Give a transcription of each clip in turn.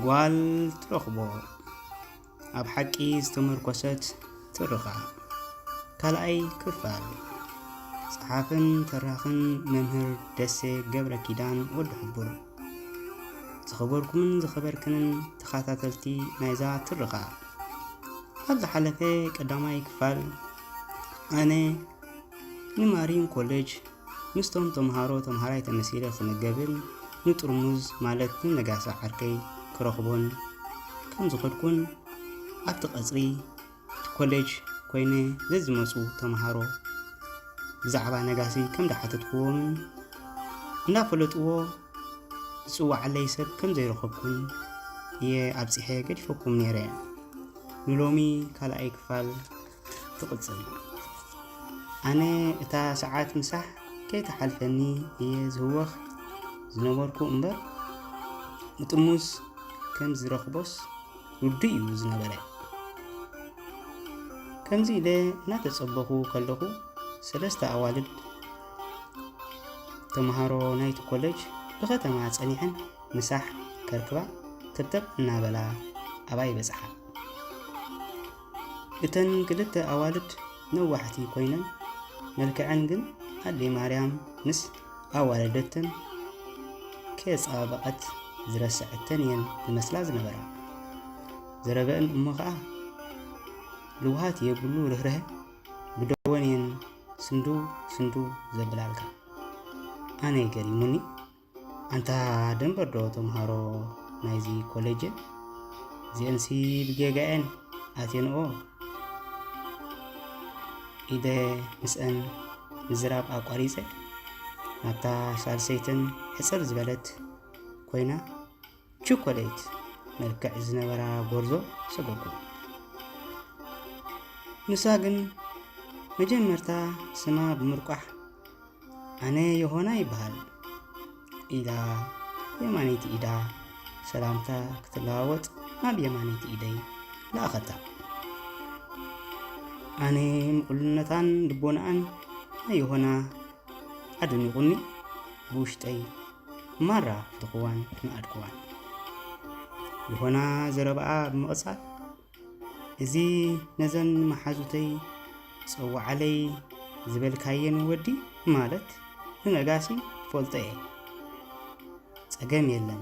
ጓል ትረኽቦ ኣብ ሓቂ ዝተመርኮሰት ትርኻ ካልኣይ ክፋል ጸሓፍን ተራኽን መምህር ደሴ ገብረ ኪዳን ወዲ ሕቡር ዝኸበርኩምን ዝኸበርክንን ተኸታተልቲ ናይዛ ትርኻ ኣብ ዝሓለፈ ቀዳማይ ክፋል ኣነ ንማሪን ኮለጅ ምስቶም ተምሃሮ ተምሃራይ ተመሲለ ክምገብን ንጥርሙዝ ማለት ንነጋሳ ዓርከይ ክረኽቦን ከም ዝኸድኩን ኣብቲ ቀጽሪ እቲ ኮለጅ ኮይነ ዘዝመጹ ተምሃሮ ብዛዕባ ነጋሲ ከም ዝሓተትክዎምን እንዳፈለጥዎ ዝጽዋዓለይ ሰብ ከም ዘይረኸብኩን እየ ኣብጺሐ ገዲፈኩም ነይረ ንሎሚ ካልኣይ ክፋል ትቕጽል። ኣነ እታ ሰዓት ምሳሕ ከይተሓልፈኒ እየ ዝህወኽ ዝነበርኩ እምበር ንጥሙዝ ከም ዝረኽቦስ ርዱእ እዩ ዝነበረ። ከምዚ ኢለ እናተጸበኹ ከለኹ ሰለስተ ኣዋልድ ተምሃሮ ናይቲ ኮሌጅ ብኸተማ ጸኒሐን ምሳሕ ከርክባ ተብተብ እናበላ ኣባይ በጽሓ። እተን ክልተ ኣዋልድ ነዋሕቲ ኮይነን መልክዐን ግን ኣደይ ማርያም ምስ ኣዋለደተን ከየጸባበቐት ዝረሰዐተን እየን ዝመስላ ዝነበራ ዘረበእን እሞ ከዓ ልውሃት የብሉ ርህርሀ ብደወን እየን ስንዱ ስንዱ ዘብላልካ ኣነ ገሪሙኒ ኣንታ ደንበዶ ተምሃሮ ናይዚ ኮሌጅን እዚኤንሲ ብጌጋኤን ኣቴንኦ ኢደ ምስአን ምዝራብ ኣቋሪጸ ናብታ ሳልሰይትን ሕጽር ዝበለት ኮይና ቸኮሌት መልክዕ ዝነበራ ጎርዞ ሰጎጎ ንሳ ግን መጀመርታ ስማ ብምርቋሕ ኣነ ዮሆና ይበሃል ኢላ የማነይቲ ኢዳ ሰላምታ ክትለዋወጥ ናብ የማነይቲ ኢደይ ለኣኸታ ኣነ ምቕሉነታን ልቦናኣን ናይ ዮሆና ኣደኒቑኒ ብውሽጠይ ማራ ፍትኹዋን ንኣድኩዋን ይኾና ዘረባኣ ብምቕጻል እዚ ነዘን መሓዙተይ ጸዋዓለይ ዝበልካየን ወዲ ማለት ንነጋሲ ፈልጦ እየ ጸገም የለን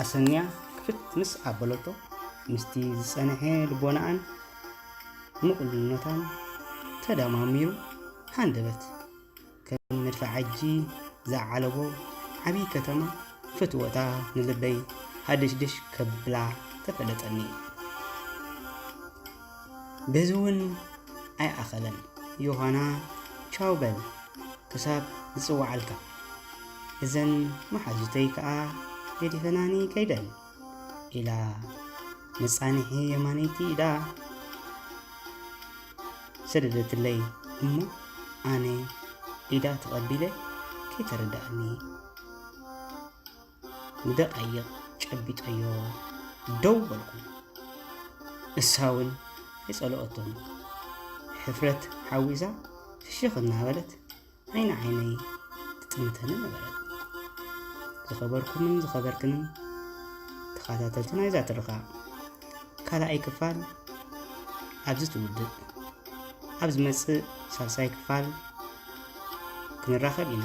ኣሰንያ ክፍት ምስ ኣበለቶ ምስቲ ዝጸንሐ ልቦናኣን ምቕሉልነታን ተደማሚሩ ሃንደበት ከም መድፋዕ ዓጂ ዝዓለቦ ዓብዪ ከተማ ፍትወታ ንልበይ ሃድሽድሽ ከብላ ተፈለጠኒ። በዚ እውን ኣይኣኸለን ዮሃና ቻው በል ክሳብ ዝጽዋዓልካ እዘን መሓዙተይ ከኣ ገዲፈናኒ ከይደን ኢላ መጻንሒ የማነይቲ ኢዳ ሰደደትለይ እሞ ኣነ ኢዳ ተቐቢለ ከይተረድኣኒ ንደቓይቕ ጨቢጠዮ ደው በልኩ። ንሳውን ኣይጸለኦቶን። ሕፍረት ሓዊሳ ፍሽኽ እናበለት ዓይኒ ዓይነይ ትጥምተኒ ነበረት። ዝኸበርኩምን ዝኸበርክንን ተኸታተልቲ ናይዛ ትርኻ ካልኣይ ክፋል ኣብዚ ትውድእ ኣብ ዝመጽእ ሳልሳይ ክፋል ክንራኸብ ኢና